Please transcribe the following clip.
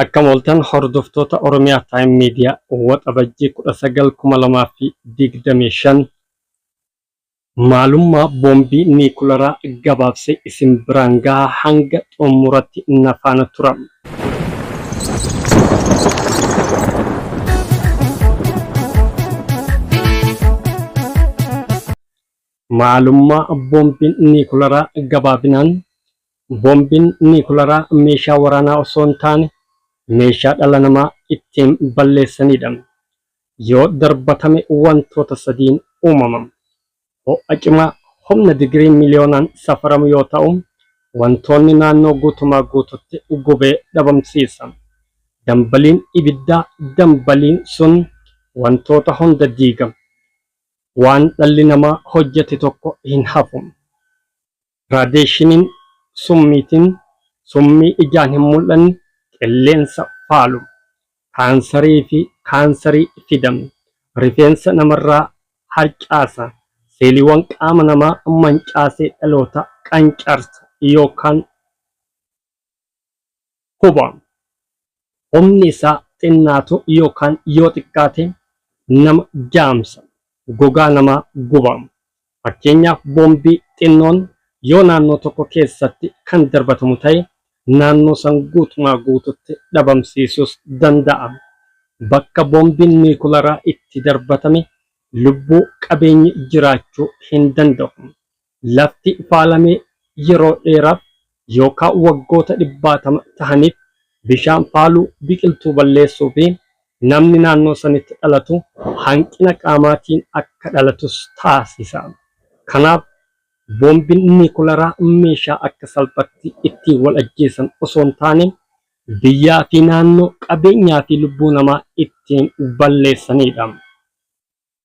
Akkam ooltan hordoftoota Oromiyaa Time Media Waxabajjii 19,2025 maalummaa boombii niikularaa gabaabsee isin biraan gaha hanga xumuratti na faana tura. Maalummaa boombiin niikularaa gabaabinaan Boombiin niikularaa meeshaa waraanaa osoo hin taane meeshaa dhala namaa ittiin balleessanidha. Yoo darbatame wantoota sadiin uumama. Ho'a cimaa humna digirii miliyoonaan safaramu yoo ta'u, wantoonni naannoo guutumaa guututti gubee dhabamsiisa. Dambaliin ibiddaa dambaliin sun wantoota hunda diiga. Waan dhalli namaa hojjete tokko hin hafu. Raadiyeeshiniin, summiitiin, summii ijaan hin mul'anne, qilleensa faalu, kaansarii fi kaansarii fida, rifeensa namarraa harcaasa, seeliiwwan qaama namaa mancaasee dhaloota qancarsa yookaan Huba. Humni isaa xinnaatu yookaan yoo xiqqaate nama jaamsa, gogaa namaa guba. Fakkeenyaaf boombii xinnoon yoo naannoo tokko keessatti kan darbatamu ta'e naannoo san guutumaa guututti dhabamsiisuus danda'a. Bakka boombiin niikularaa itti darbatame lubbuu, qabeenyi jiraachuu hin danda'u. Lafti faalame yeroo dheeraaf yookaa waggoota dhibbaatama tahaniif bishaan faaluu, biqiltuu balleessuu fi namni naannoo sanitti dhalatu hanqina qaamaatiin akka dhalatus taasisa. Kanaaf boombiin niikularaa meeshaa akka salphatti ittiin wal ajjeesan osoo hin taane biyyaa fi naannoo, qabeenyaa fi lubbuu namaa ittiin balleessaniidha.